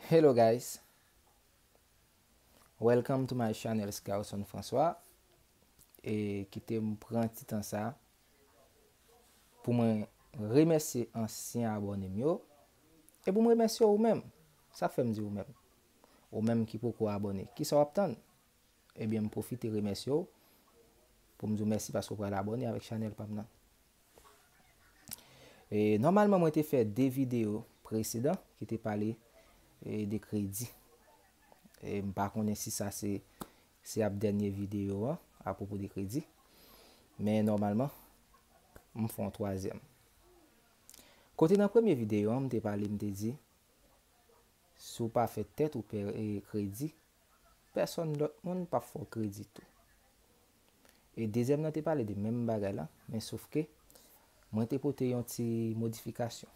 Hello guys Welcome to my channel Scarson François E kite m pran ti tan sa Pou mwen remèsye ansyen abòne m yo E pou m remèsye ou menm Sa fè m di ou menm Ou menm ki poko abòne Kisa w ap tann Ebyen m pwofite remèsye w pou m di w mèsi paske w pral abòne avèk chanèl pa m nan. E nòmalman mwen te fè 2 videyo presedan ki te pale de kredi. E m pa konnen si sa se se ap dènye videyo an apwopo de kredi. Men nòmalman m fè yon twazyèm. Kote nan premye videyo an m te pale m te di si w pa fè tèt ou pè kredi Pèsòn lòt moun pap fè w kredi tou. E dezyèm nan te pale de menm bagay lan, men sof ke mwen te pote yon ti modifikasyon.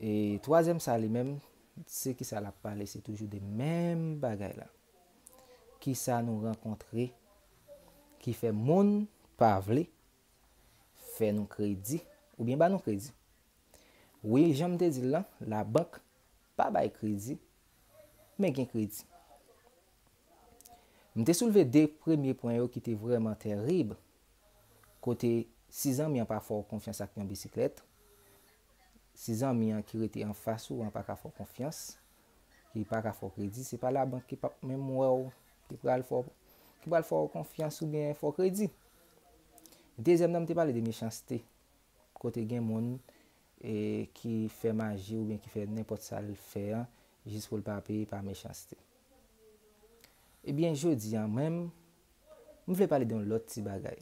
E twazyèm sa li menm, se ki sa l ap pale, se toujou de menm bagay lan. Ki sa nou rankontre ki fè moun pa vle fè nou kredi oubyen ba nou kredi. Wi, jan m te di l lan, labank Pa bay kredi, men gen kredi. M te soulve de premye pwen yo ki te vrèman tèrib, kote si zanmi an pa fè w konfyans ak yon bisiklèt, si zanmi an ki rete anfas ou an pa ka fè w konfyans, ki pa ka fè w kredi, se pa labank ki p ap menm wè w ki pral fè w, ki pral fè w konfyans oubyen fè w kredi. Dezyèm nan m te pale de mechanste, kote gen moun ki fè maji oubyen ki fè nenpòt sa l fè an jis pou l pa peye pa mechanste. Ebyen jodi an menm, m vle pale de yon lòt ti bagay.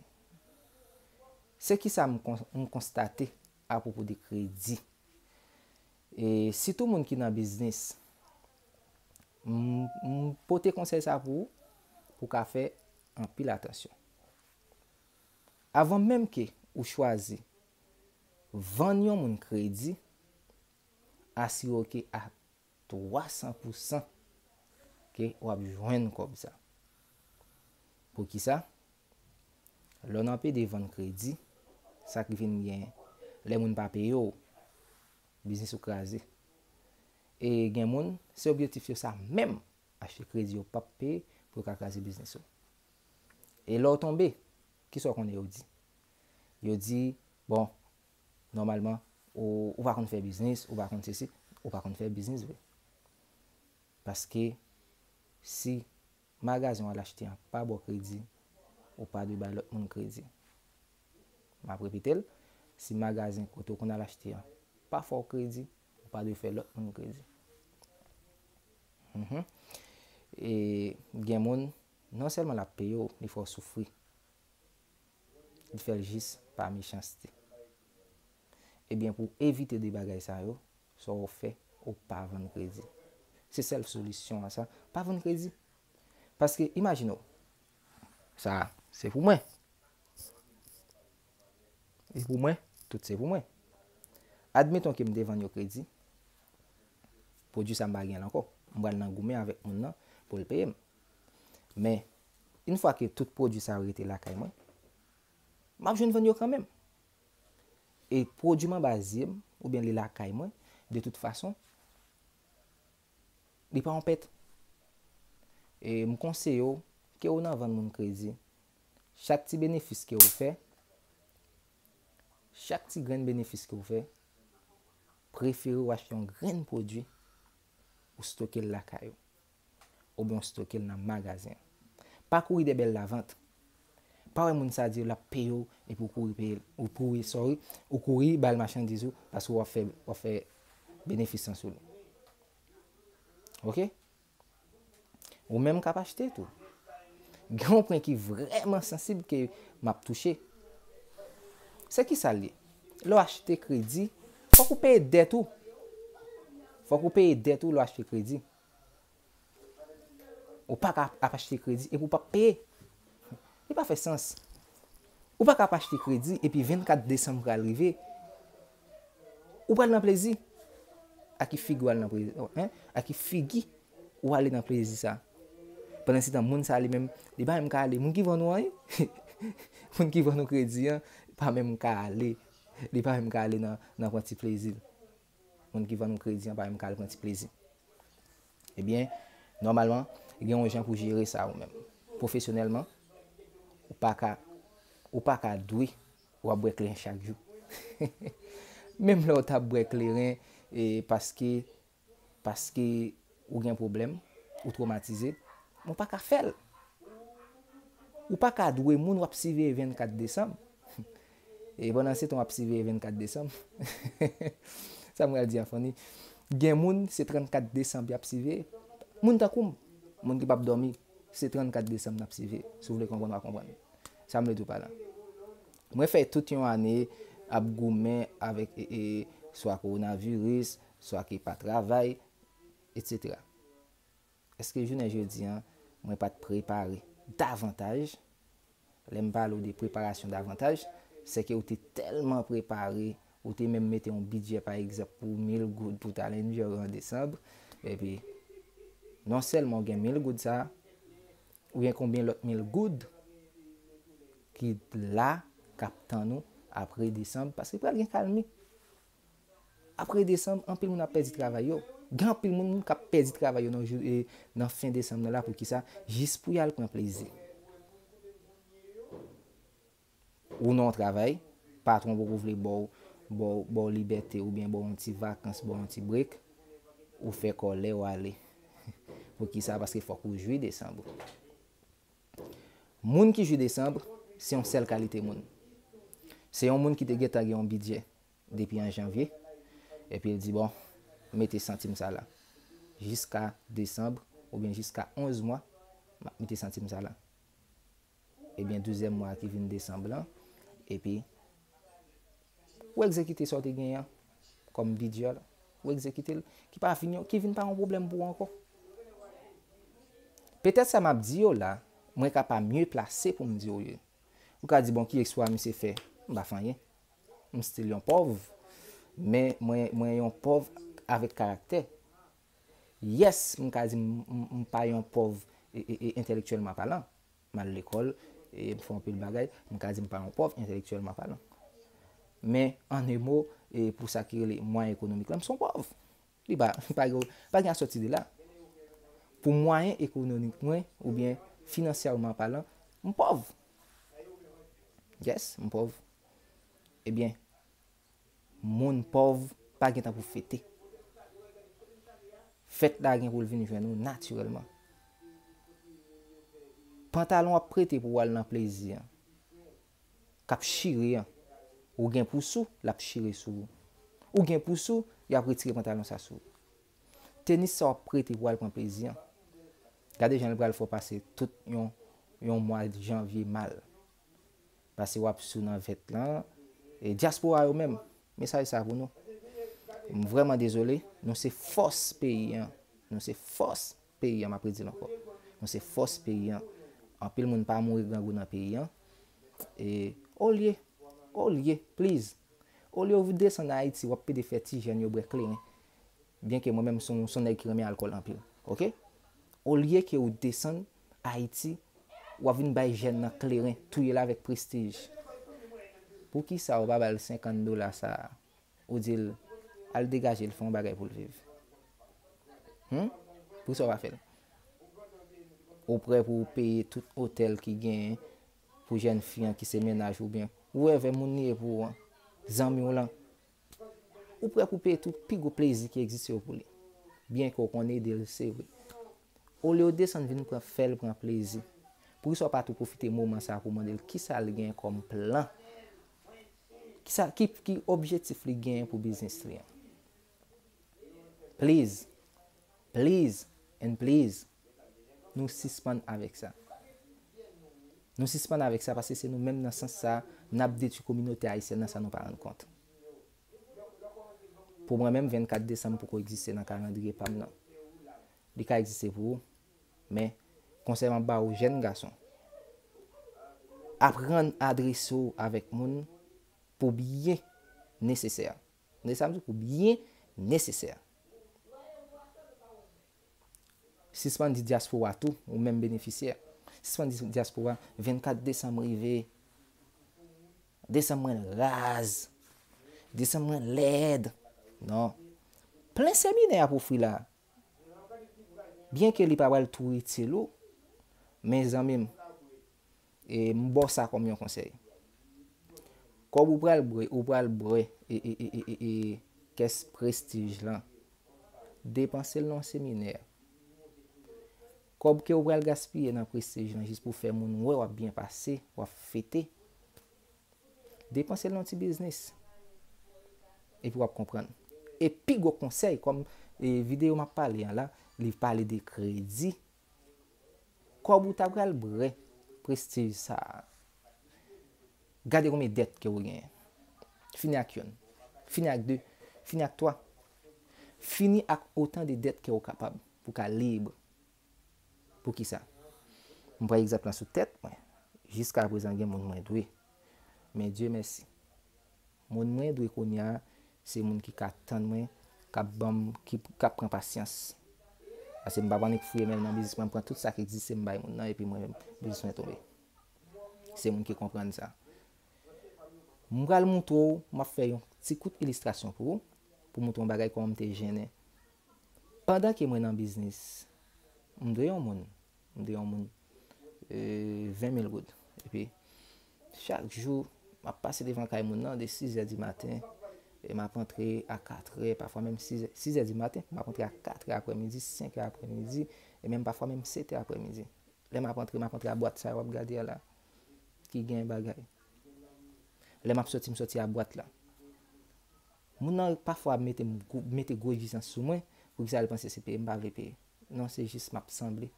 Se kisa m konstate apwopo de kredi. E sitou moun ki nan biznis, m pote konsèy sa pou ou, pou w ka fè anpil atansyon. Avan menm ke ou chwazi Vann yon moun kredi, asire w ke a 300 pou san ke w ap jwenn kòb sa. Pou ki sa? Lè nan pede vann kredi, sa k vin gen, lè moun pa peye w, biznis ou kraze. E gen moun, se objektif yo sa menm, achte kredi yo p ap peye pou yo ka kraze biznis ou. E lè w tonbe, ki sa w konnen yo di? Yo di, bon, nòmalman, ou ou pa konn fè biznis, ou pa konn sesi, ou pa konn fè biznis vre. Paske si magazen w al achte an pa ba w kredi, ou pa dwe bay lòt moun kredi. M ap repete l, si magazen kote w konn al achte an pa fè w kredi, ou pa dwe fè lòt moun kredi. Mh. E gen moun, non sèlman l ap peye w, li fè w soufri. Li fè l jis pa mechanste. Ebyen pou w evite de bagay sa yo, sa w ap fè, ou pa vann kredi. Se sèl solisyon an sa, pa vann kredi. Paske imajine w, sa a se pou mwen. E pou mwen, tout se pou mwen. Admeton ke m te vann yo kredi, pwodui sa m pa gen l ankò. M pral nan goumen avèk moun nan pou l peye m. Men, yn fwa ke tout pwodwi sa yo rete lakay mwen, m ap jwenn vann yo kanmenm. E pwodwi m anba zye m, oubyen li lakay mwen, de tout fason, li pa yon pèt. E m konseye w, ke ou nan vann moun kredi, chak ti benefis ke ou fè, chak ti grenn benefis ke ou fè, prefere ou achte yon grenn pwodwi, ou stoke l lakay ou. oubyen w stoke l nan magazen. Pa kouri dè bèl lavant. Pa wè moun sa di w l ap peye w epi w kouri peye l, ou kouri, sorry, ou kouri ba l machandiz ou paske w ap fè, w ap fè benefis lan sou li. Ok? Ou menm k ap achte tou. Gen yon pwen ki vrèman sansib ke m ap touche. Se ki sa l ye? Lè w achte kredi, fòk ou peye dèt ou. Fòk ou peye dèt ou lè w achte kredi. Ou pa ka ap achte kredi epi ou pap peye. Li pa fè sans. Ou pa ka ap achte kredi epi 24 desanm pral rive, ou pral nan plezi. A ki figi ou al nan plezi ou an? A ki figi ou ale nan plezi sa? Pandansetan moun sa li menm, li pa menm ka ale. Moun ki vann ou an, moun ki vann ou kredi an pa menm ka ale. Li pa menm ka ale nan pran ti plezi l. moun ki vann ou kredi an pa menm ka al pran ti plezi. Ebyen, nòmalman, gen yon jan pou jere sa ou menm. Pwofesyonèlman, ou pa ka, ou pa ka dwe ou ap bwè kleren chak jou. Menm lè ou ta bwè kleren e paske, paske ou gen pwoblèm, ou twomatize, men ou pa ka fè l. Ou pa ka dwe moun ou ap siveye 24 desanm. E pandan se tan w ap siveye 24 desanm, sa m pral di a funny, gen moun se 34 desanm y ap siveye, moun tankou m, moun ki p ap dòmi, se 34 desanm n ap siveye, si w vle konprann w a konprann sa m vle di w pa la. Mwen fè tout yon ane ap goumen avèk swa kowonaviris, swa ki pa travay, etc. Èske jounen jodi a mwen pa t prepare davantaj? Lè m pale w de preparasyon davantaj, sèke ou te tèlman prepare, ou te menm mete yon bidjè pa egzanp pou mil goud pou w t al Endyòr an desanm, epi non sèlman ou gen mil goud sa a, ou gen konbyen lòt mil goud ki la k ap tann ou apre desanm, paske pral gen kalmi. Apre desanm, anpil moun ap pèdi travay yo. Gen anpil moun k ap pèdi travay yo nan fen desanm nan la poukisa? Jis pou y al pran plezi. Ou nan yon travay, patwon ou poko vle ba w libète oubyen ba w yon ti vakans, ba w yon ti break, ou fè kòlè ou ale. Poukisa? Paske fòk ou jwi desanm ou. Moun ki jwi desanm, se yon sèl kalite moun. Se yon moun ki te gentan gen yon bidjè. depi an janvye, epi l di bon mete santim sa la jiska desanb oubyen jiska 11 mwa m ap mete santim sa la ebyen douzyèm mwa ki vin desanb lan epi ou egzekite sa w te genyen an kòm bidjè la ou egzekite l ki pa vin yon ki vin pa yon pwoblèm pou ou ankò. Petèt sa m ap di yo la mwen ka pa mye plase pou m di yo li. Ou ka di bon ki eksplwa misye fè? M pa fè anyen. M still yon pòv, men mwen yon pòv avèk karaktè. Yes, m ka di m pa yon pòv entèlektyèlman palan. M al lekòl, m fè anpil bagay, m ka di m pa yon pòv entèlektyèlman palan. Men, an e mo, pou sa ki rele mwayen ekonomik la, m son pòv. Li pa pa gen pa gen asòti de la. Pou mwayen ekononik mwen oubyen finansyèman palan, m pòv. Yes, m pòv. Ebyen, moun pòv pa gen tan pou fete. Fèt la gen pou l vin jwenn ou natirèlman. Pantalon w ap prete pou w al nan plezi an. kap chire an ou gen pou sou lap chire sou ou ou gen pou sou yap retire pantalon sa sou ou tenis sa wap prete pou al pran plezi an gade jan li pral fè w pase tout yon yon mwa janvye mal pase wap sou nan vèt lan e dyaspora yo menm mesaj sa pou nou m vrèman dezole nou se fòs peyi an nou se fòs Peyi an map redil ankò nou se fòs peyi an anpil moun pa mouri grangou nan peyi an e olye olye please olye ou desann ayiti wap pede fè ti jèn yo bwè kleren byen ke mwen menm son son nèg ki renmen alkòl anpil ok olye ke ou desann ayiti wap vin bay jèn nan kleren touyel avèk prestij poukisa ou pa bal 50 dola sa Ou di l, Al degaje l fè yon bagay pou l viv. Hum? Poukisa ou pa fè l? Ou prè pou ou peye tout otèl ki genyen pou jèn fi an ki se mennaj ou byen. Ou wè vè moun li ye pou ou an, zanmi w lan. Ou prè pou peye tout pi gwo plezi ki egziste yo pou li. Byen ke ou konn ede l se vre. Olye ou desann vin pran fè l pran plezi. Poukisa ou pa tou pwofite moman sa a pou w mande l kisa l genyen kòm plan Kisa ki ki objetif li genyen pou biznis li an? Please, please and please nou sispann avèk sa. Nou sispann avèk sa paske se nou menm nan sans sa nap detwi kominote ayisyèn nan san nou pa rann kont. Pou mwen menm 24 desanm poko egziste nan kalandriye pam nan. Li ka egziste pou ou. Men, konsèy m ap ba ou jèn gason, aprann adrese w avèk moun pou byen nesesè. Tande sa m di w, pou byen nesesè. Sispann di dyaspora tou, ou menm benefisyè, sispann di dyaspora 24 desanm rive, desanm mwen raz, desanm mwen lèd. Non. Plen seminè ap ofri la. Byen ke li pa pral tou itil ou, men zanmi m, e m ba w sa kòm yon konsèy. Kòb ou pral bwè, ou pral bwè e kès prestij lan, depanse l nan yon seminè. Kòb ke ou pral gaspiye nan prestij lan jis pou fè moun wè w ap byen pase, w ap fete. Depanse l nan ti biznis. Epi w ap konprann. E pi gwo konsèy kòm videyo m ap pale an la, li pale de kredi. Kòb ou ta pral bre prestij sa a. Gade konbyen dèt ke ou genyen. Fini ak youn. Fini ak de. Fini ak twa. Fini ak otan de dèt ke ou kapab pou ka lib. Poukisa? M pran egzanp lan sou tèt mwen. Jiskaprezan gen moun mwen dwe. Men Dye mèsi. Moun mwen dwe kounye a, se moun ki ka tann mwen, k ap ban m, k ap pran pasyans. Paske m pa ap annik fouye men m nan biznis mwen, m pran tout sa k egziste m bay moun nan epi mwen menm biznis mwen tonbe. Se moun ki konprann sa. M pral montre w, m ap fè yon ti kout ilistrasyon pou ou, pou montre w yon bagay kòman m te jennen Pandan ke mwen nan biznis, m dwe yon moun, m dwe yon moun 20 mil goud. Epi, chak jou, m ap pase devan kay moun nan de 6 zè di maten, e m ap antre a 4 zè, pafwa menm 6 zè, 6 zè di maten, m ap antre a 4 zè apre midi, 5 zè apre midi, e menm pafwa menm 7 zè apre midi. Lè m ap antre, m ap antre a bwat sa yo w ap gade a la, ki gen bagay. Lè m ap soti, m soti a bwat la. Moun nan pafwa mete m mete gwo egzijans sou mwen, poukisa l panse se peye m pa vle peye? Non se jis map sanble.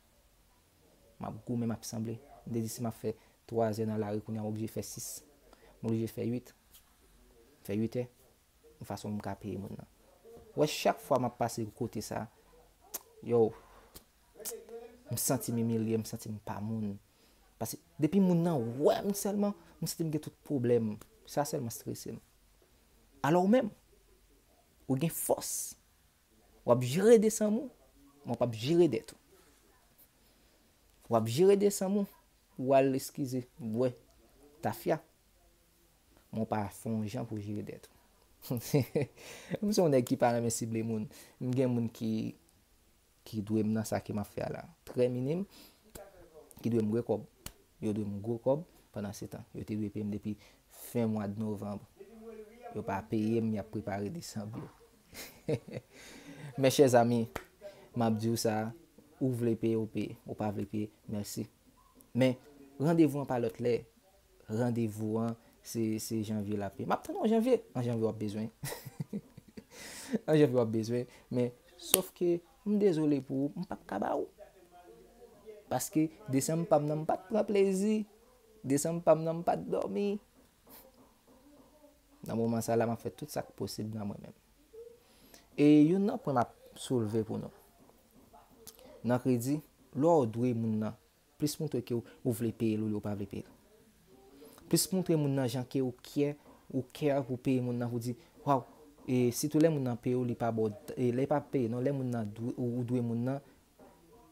Map goumen map sanble. M te di si map fè 3 zè nan lari kounya m oblije fè 6. M oblije fè 8. M fè 8 è yon fason pou m ka peye moun nan. Ou wè chak fwa map pase kote sa, yow m santi m imilye, m santi m pa moun. Pase depi moun nan wè m sèlman, m santi m gen tout pwoblèm. Sa sèlman strese m. Alò ou menm, ou gen fòs. W ap jere desanm ou, men w pa p jere dèt ou. W ap jere desanm ou, ou al eskize, bwè tafya, men w pa fè yon jan pou w jere dèt ou. M se yon nèg ki pa renmen sible moun. M gen moun ki Ki dwe m nan sa ke m ap fè a la. Trè minim ki dwe m gwe kòb. Yo dwe m gwo kòb pandansetan. Yo te dwe peye m depi fen mwad novanb. Yo pa peye m, y ap prepare desanb yo. Mes chers amis, m ap di w sa, ou vle peye, ou peye. Ou pa vle peye, mèsi. Men, randevou an pa lòt lè. Randevou an se se janvye lap ye. Map tann ou an janvye. An janvye wap bezwen. An janvye wap bezwen. Men, sof ke m dezole pou ou, m pap ka ba ou. Paske desanm pa m nan m pat pran plezi. Desanm pa m nan m pat dòmi. Nan moman sa la map fè tout sak posib nan mwen menm. E youn nan pwen map soulve pou nou. Nan kredi, lè w dwe moun nan. Plis moutre ke ou vle peye l olye ou pa vle peye l. Plis moutre moun nan jan ke ou kyè, ou care pou peye moun nan pou di, waw, e sitou lè moun nan peye ou li pa ba w, e lè pa peye non, lè moun nan dwe ou dwe moun nan,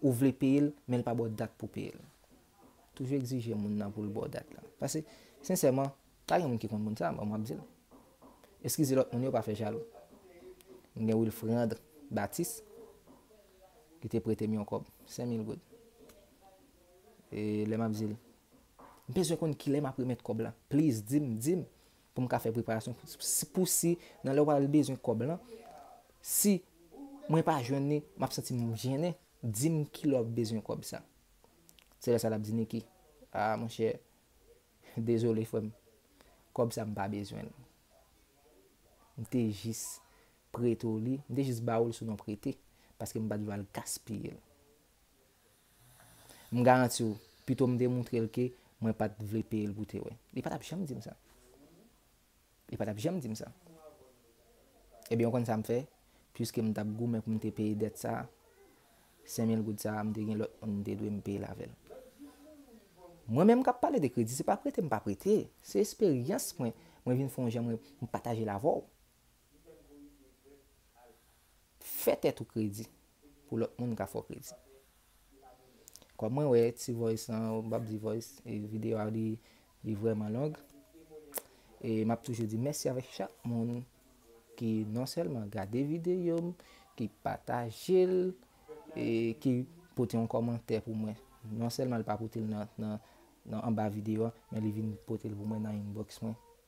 ou vle peye l men l pa ba w dat pou peye l. Toujou egzije moun nan pou l ba w dat la. Pase, sensèman, pa gen moun ki konn moun sa, bon m ap di l. Eskize lòt moun yo pa fè jalou. M gen Wilfrandre Baptiste. Li te prete m yon kòb, sen mil goud. E lè m ap di l, M bezwen konn ki lè m ap remèt kòb lan. Pliz, di m, di m pou m ka fè preparasyon pou si nan lè w al bezwen kòb lan, si mwen pa jwenn li, m ap santi m jennen. Di m ki lè w ap bezwen kòb sa. Se lè sa l ap di Niki, A, monchè, dezole frè m, kòb sa m pa bezwen l. M te jis Prete w li. M te jis ba ou l sou non prete, paske m pa t vle al gaspiye l. M garanti w, pito m te montre l ke mwen pa t vle peye l pou te wè. Li pa t ap janm di m sa. Li pa t ap janm di m sa. Ebyen, ou konn sa m fè? Piske m t ap goumen pou m te peye dèt sa a, sen mil goud sa a, m te gen lòt moun m te dwe m peye l avè l. Mwen menm k ap pale de kredi, se pa prete m pa prete. Se esperyans mwen, mwen vin fè yon jan mwen pataje l avè w. Fè tèt ou kredi pou lòt moun ka fè w kredi. Kòm mwen wè ti voice lan, m pap di voice, e video a li, li vrèman long. E m ap toujou di mèsi avèk chak moun ki non sèlman gade video m, ki pataje l, e ki pote yon kòmantè pou mwen. Non sèlman li pa pote l nan anba video a, men li vin pote l pou mwen nan inbox mwen.